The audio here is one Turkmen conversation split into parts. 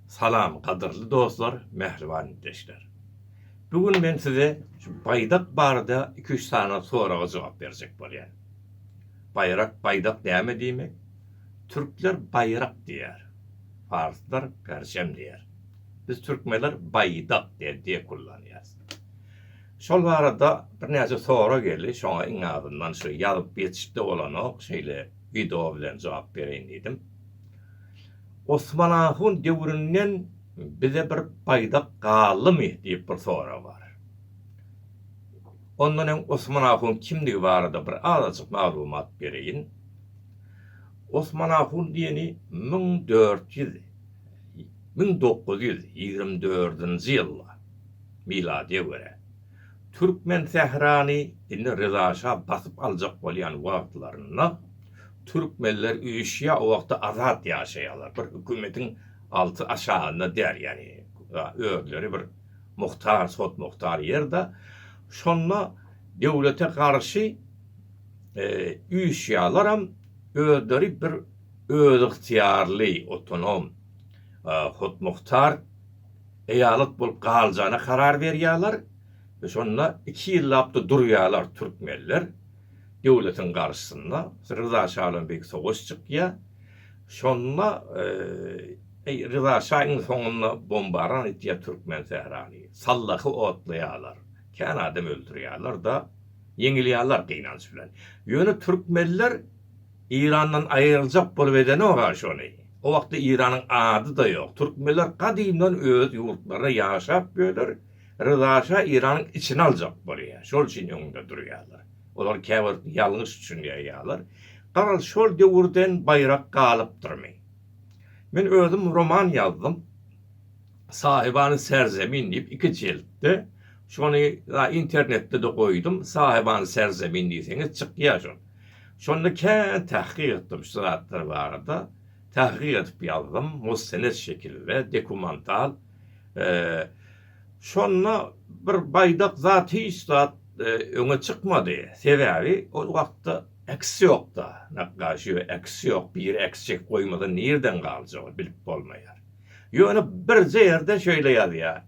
Salam gadyrly dostlar mähriban ildeşler. Bu gün men size şu baýdak barada iki üç sany soraga jogap berjek bolýan. Baýrak baýdak näme diýmek? Türkler baýrak diýer. Parslar perjem diýer. Biz türkmenler baýdak diýen diýek kullanýas. Şol barada birnäçe sorag geldi şoňa iň azyndan şu ýazyp ýetişipde bolanok şeýle wideo bilen jogap bereýin diýdim. Osman ahun döwründen bize bir baýdak galdymy diýip bir sorag bar. Ondan öň Osman ahun kimdigi barada bir azajyk maglumat bereýin. Osman ahun diýeni müň dört ýüz, müň dokuz ýüz ýigrimi dördünji ýylda, miladyýa görä, Türkmensährany indi Ryzaşa basyp aljak bolýan wagtlarynda, Türkmenler üýşýär o wagtda azat ýaşaýarlar bir hökümetiň alty aşagynda däl ýagny özleri bir muhtar sot muhtar ýerde şonda döwlete garşy üýşýärleram özleri bir özygtyýarly otonom sot muhtar eýalat bolup galjana karar berýärler şonda iki ýyllapda durýarlar türkmenler döwletiň garşysyna Ryza şadan beýik sowaş çykýar. Şonda Ryza şa iň soňunda bombaran etýär türkmen sährany. Sallahy otlaýarlar. Kän adam öldürýärler-de, ýeňilýärler gynanç bilen. Ýöne türkmenler Eýrandan aýryljak bolup edenok-a şony. O wagtda Eýranyň ady-da ýok. Türkmenler gadymdan öz ýurtlarynda ýaşap ýörler. Ryzaşa Iranyň içini aljak bolýar, şol üçin öňünde durýarlar. Olar käbir ýalňyş düşünýärýarlar. Garaz, şol döwürden baýrak galypdyrmy? Men özüm roman ýazdym. Sahibany serzemin diýip iki jeltde. Şony a internetde-de goýdum. Sahibany serzemin diýseňiz çykýar şol. Şonda kän tahkyk etdim şu zatlar barada. Tahkyk edip ýazdym, mustened şekilde, dekumantal. Şonda bir baýdak zat hiç zat öňe çykmady. Sebäbi ol wagtda eks ýokda. Nakgaşio eks ýok. Biri eks çekip goýmasa nirden galjagy bilip bolmaýar. Ýöne birje ýerde şeýle ýazýar.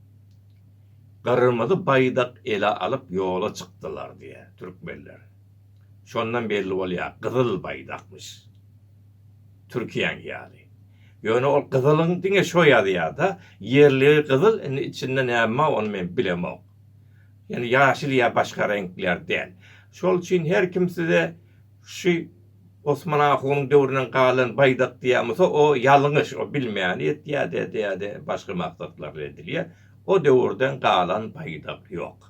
Gyrmyzy baýdak ele alyp ýola çykdylar diýýär türkmenler. Şondan belli bolýar gyzyl baýdakmyş. Türkiýäň ýaly. Ýöne ol gyzylyň diňe şo ýazýada, ýerligi gyzyl indi içinde näme ony men bilemok. Ýöne ýaşyl ýa başga reňkler däl. Şol üçin her kim size şu Osman ahunyň döwründen galan baýdak diýen bolsa o ýalňyş o bilmäni etýä dä dä dä başga maksatlar bilen edilýä. O döwürden galan baýdak ýok.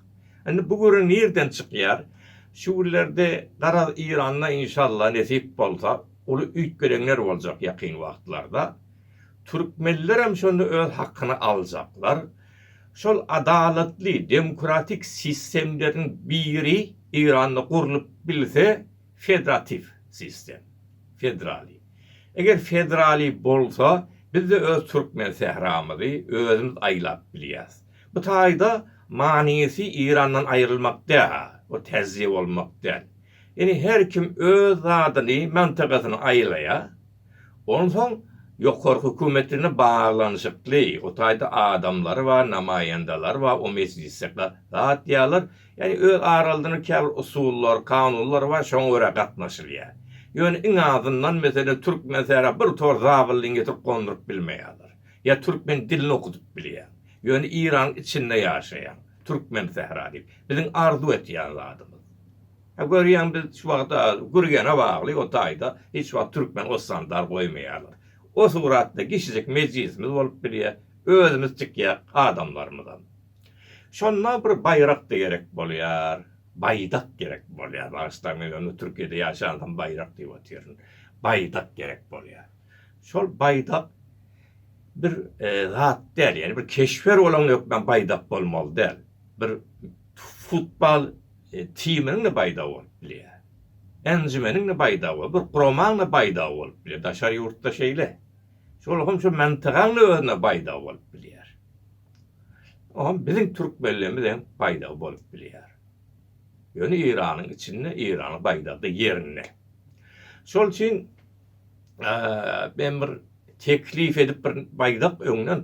Indi bu güri nirden çykýar? Şu günlerde garaz Eýranda inşalla nesip bolsa uly üýtgereňler boljak ýakyn wagtlarda. Türkmenlerem şonda öz hakyny aljaklar. Şol adalatly demokratik sistemleriň biri Eýranda gurlup bilse fedratiw sistem. Fedrali. Eger fedrali bolsa bizde öz türkmen sähramyzy özümiz aýlap bilýäs. Bu taýda manysy Eýrandan aýrylmak däl we täze bolmak däl. Indi her kim öz zadyny, mantagasyny aýlaýar. Onsoň ýokary hökümet bilen baglanyşykly, o taýda adamlary bar, namaýandalar bar, o mejlise gatýarlar. Ýagny öz aralarynda käbir usullar, kanunlar bar, şoňa görä gatnaşylýar. Ýöne iň azyndan meselem türkmen sähra bir tor zabyllyny getirip gonduryp bilmeýärler. Ýa türkmen dilini okudyp bilýär. Ýöne Yraň içinde ýaşaýan Türkmen sähra diýip, biziň arzuw etýän zadymyz. Hä görýäň biz şu wagt a Gürgene bagly o taýda hiç wagt Türkmen Ostandar goýmaýarlar. O suratda kişijik mejlisimiz bolup bilýä, özümiz çykýak adamlarymyzam. Şonda bir baýrakda gerek bolýar, baýdak gerek bolýar, bagyşlaň men ony Türkiýede ýaşansam baýrak diýip otyryn. Baýdak gerek bolýar. Şol baýdak bir zat däl, ýagny bir keşpler bolaň hökman baýdak bolmaly däl. Bir futbol timiniň-de baýdagy bolup bilýär. Enjimeniň-de baýdagy bolup, bir guramaň-da baýdagy bolup bilýär. Daşary ýurtda şeýle. Şol hem şu mantagaň-da özüne baýdagy bolup bilýär. O hem biziň türkmenlerimiz hem baýdagy bolup bilýär. Ýöne Eýranyň içinde Eýranyň baýdagy-da ýerinde. Şol üçin men bir teklif edip bir baýdak öňden